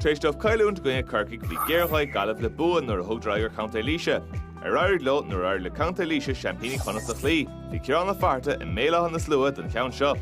Tar éis dóibh cailliúint i gcoinne Corcaigh, bhí géarghá ag Gaillimh le bua nuair a thugadar aghaidh ar Chontae Laoise, ar éirigh leo nuair a d'éirigh le Contae Laoise seaimpíní Chonnacht a chloí. Bhí Ciarán Ó Fátharta i mBéal Átha na Sluaighe don cheann seo.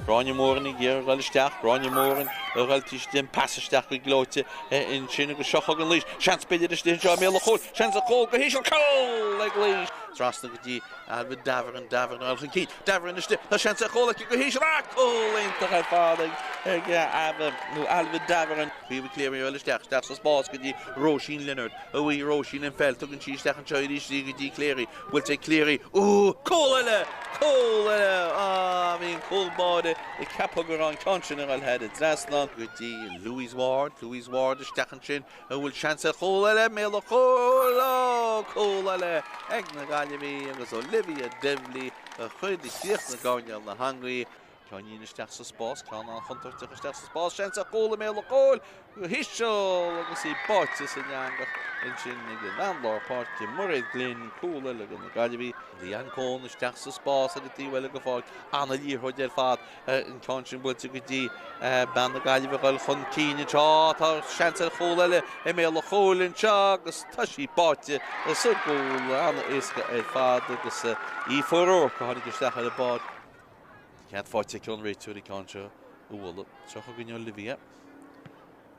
Gráinne Moran ag iarraidh a ghoil isteach, Gráinne Moran ag gabháil thairsti, an pas isteach go gleoite ansin agus seo chugainn Laois, seans b'fhéidir istigh anseo i mbéal an chúil, seans ar chúl go híseal, cúl ag Laois! Trasna go dtí Ailbhe Davoren, Davoren a ghoil chun cinn, Davoren istigh. Tá seans ar chúl aici go híseal ach cúl iontach ar fad ag Ava, nó Ailbhe, Davoren. Caoimhe Cleary isteach, isteach sa spás go dtí Róisín Leonard. Bhuaigh Róisín an pheil, tugann sí isteach anseo arís í go dtí Cleary. Buailte ag Cleary. Úúú! Cúl eile! Cúl eile! Á, bhí an cúl báire ag ceapadh go raibh an ceann sin ag dul thar an trasnán go dtí Louise Ward. Louise Ward isteach ansin. An bhfuil seans ar chúl eile? I mbéal an chúil! Óóóó! Cúl eile ag na Gaillimhigh agus Olivia Divilly a chuir isteach i gcoirnéal na heangaí. Ceáinín isteach sa spás, ceann an-chontúirteach isteach sa spás, seans ar chúl i mbéal an chúil go híseal agus í báite san eangach ansin ag an lár páirce, Mairéad Glynn, cúl eile ag na Gaillimhigh. Leanne Coen isteach sa spás ar an taobh eile go fóill, an-liathróid ar fad an ceann sin buailte go dtí bean na Gaillimhe a ghoil chun cinn anseo, tá seans ar chúl eile i mbéal an chúil anseo agus tá sí báite sa gcúl, an-éasca ar fad agus Aoife O'Rourke a tháinig isteach ar an bpáirc. Cead faighte ón an réiteoir an ceann seo a bhualadh. Seo chugainn Olivia.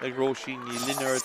ag Róisín Ní Lionáird.